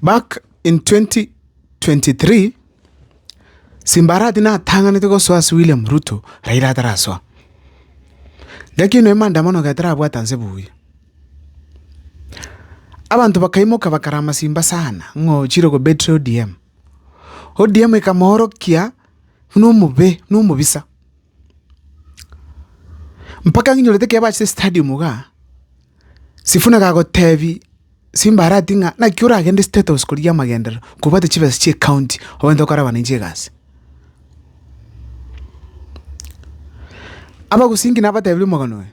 Back in 2023, simba arati natang'anete gosoa ase William Ruto, Raila atarasoa. Gaki noe maandamano getarabwata nse buya. Abanto bakaimoka bakarama simba sana ng'o chire kobetire ODM. ODM ekamoorokia buna omobe, buna omobisa. Mpaka ng'inyorete ekero bachete stadium igaa, Sifuna gagotebi Simba arati ng'a naki oragende State House korigia amagenderero kobwate chibesa chia ecounty obwenerete gokora abananchi egasi. Abagosinki nabatebirie omogano oye.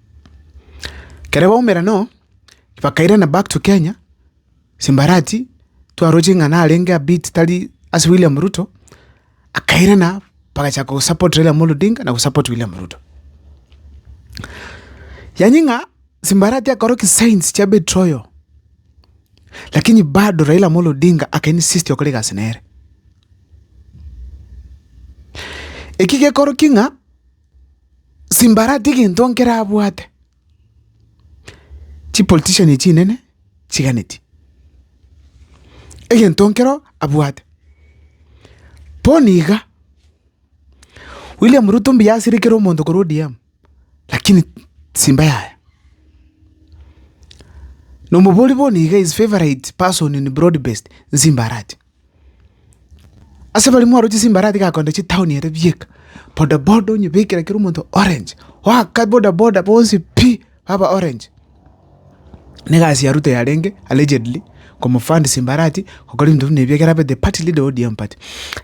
Kere baumera noo, bakairana back to Kenya, Simbarati twaroche ng'a narenge a bit tari ase William Ruto, akairana bagachaka go support Raila Amolo Odinga na go support William Ruto. Yaani ng'a Simbarati akoro ki signs chia betroyal, lakini bado Raila Amolo Odinga aka insist okora egasi nere. Eki gekoro ki ng'a. Simbara tigento nkerabwate. Chipolitician echi chinene chiganeti. Egento nkero abwate. Bono iga, William Ruto mbuya asire kera omonto korwa ODM, lakini simba yaye. Nomobori bono iga his favorite person in broad based, nsimbarache. Ase abarimo oroche chimbarati gakonde chitaoni ere bieka, boda boda onyebekere kera omonto orange, oaka boda boda bonsi pi baba orange. Na egasi ya Ruto yarenge allegedly komofund chimbarati gokora ebinto buna ebi ekero abete party leader o ODM party.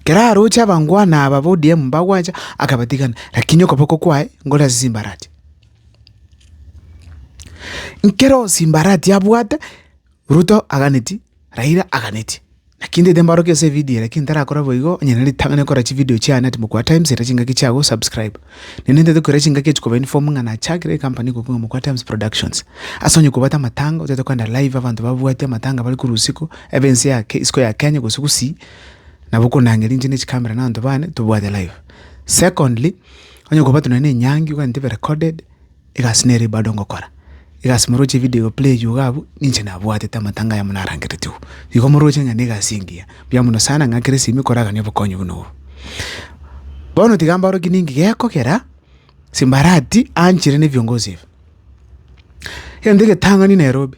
Kera aroche abangwana aba ba ODM mbagwancha akabatigana lakini okoboko kwaye nkore ase chimbarati. Nkero chimbarati abwate. Ruto aganeti, Raila aganeti. Naki ntaete mbaorokie ase evidio, lakini ntarakora boigo, onye nere ritang'ani kora chividio chiane ati Mokwa Times era chingaki chia go subscribe. Nende ntaete koira chingaki echi koba inform ng'a nachakire ecompany iko kong'a Mokwa Times Productions. Ase onye kobwate amatanga, otaete koenda live abanto babwati amatanga bare korwa usiku, ebe ense ya ke isiko ya Kenya gose gusii, nabo okonang'eria inche ne chicamera na abanto bane tobwate live. Secondly, onye kobwate nonye na enyangi oganeti ebe recorded, Egasi nere eye bado ngokora, egasi moroche evideo play eywo iga abwo, ninche nabwatete amatanga aya monarangerete igwe. Igo moroche ng'a negasi engiya, mbuya mono sana ng'a kera esimi koragania obokonyi buna obo. Bono tiga mbaorokie ninki gekogera Simbarati aanchere ne ebiongozi ebi. Egento egetang'ani Nairobi.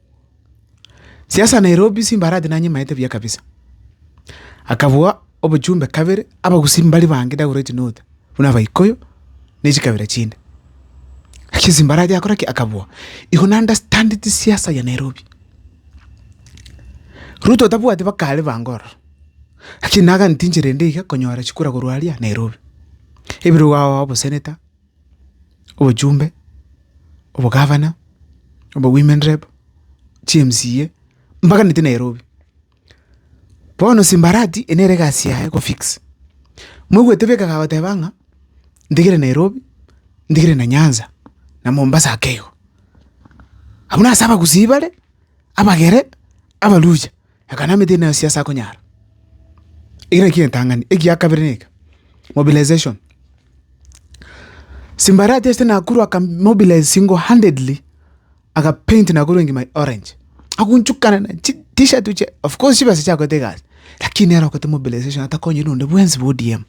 Siasa Nairobi simbarati nanyimaete buya kabisa. Akabua obochumbe kabere abagusii mbari bange ndagure gochia nota buna abaikoyo ne chikabira chinde. Lakini simbarati akora ki? Akabua. Igo na understand chisiasa ya Nairobi. Ruto tabwati bakare bange ororo, lakini nagatinchire ende iga konyora chikura korwa aria Nairobi. Ebirwe ao obo senator. obochumbe, obogavana, obo women rep, chi MCA, mpaka neti Nairobi. Bono simbarati eye nere egasi yaye eko fix. Moigwete bika kagoteba ng'a ntigire Nairobi, ntigire na Nyanza, na Mombasa ake igo. Abwo nase abagusii bare, abagere, abaluya. Akanamete ineo ase asakonyara. Eki nakio getang'ani. Egia kabere neke, mobilization. Simbarati ase Nakuru aka mobilize single handedly aka paint Nakuru engima orange. Agochukana na chi t-shirt chie of course chibesa chiakorete egasi lakini nere okorete mobilization atakonyire onde bwensi bo ODM.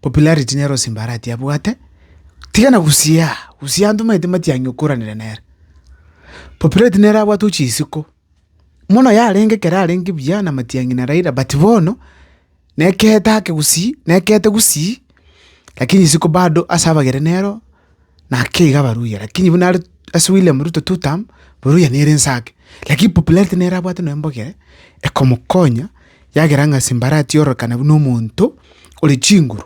popularity nere ase embarati abwate, tigana gusii aa, gusii aa ntomanyete matiang'i okoranere nere. Popularity nere abwate gochia isiko, mono yarenge ekero arenge buya na matiang'i na Raila but bono nekeete ake gusii, nekeete gusii lakini isiko bado ase abagere nero. Naki iga abaluhya lakini buna are ase William Ruto two term, boluhya nere inse ake. Lakini popularity nere abwate noyo mbogire, ekomokonya, yagera ng'a simbara atiororokana buna omonto ore chinguru,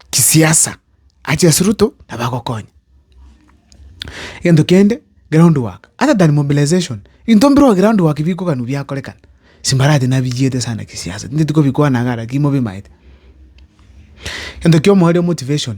kisiasa, ache ase Ruto nabo agokonya. Egento kende, ground work, other than mobilization, ebinto mbire oo ground work bikoganwa biakorekana, simbarati nabiyiete sana kisiasa, tinteti kobikwana iga lakini mobimaete. Egento kia omoerio motivation.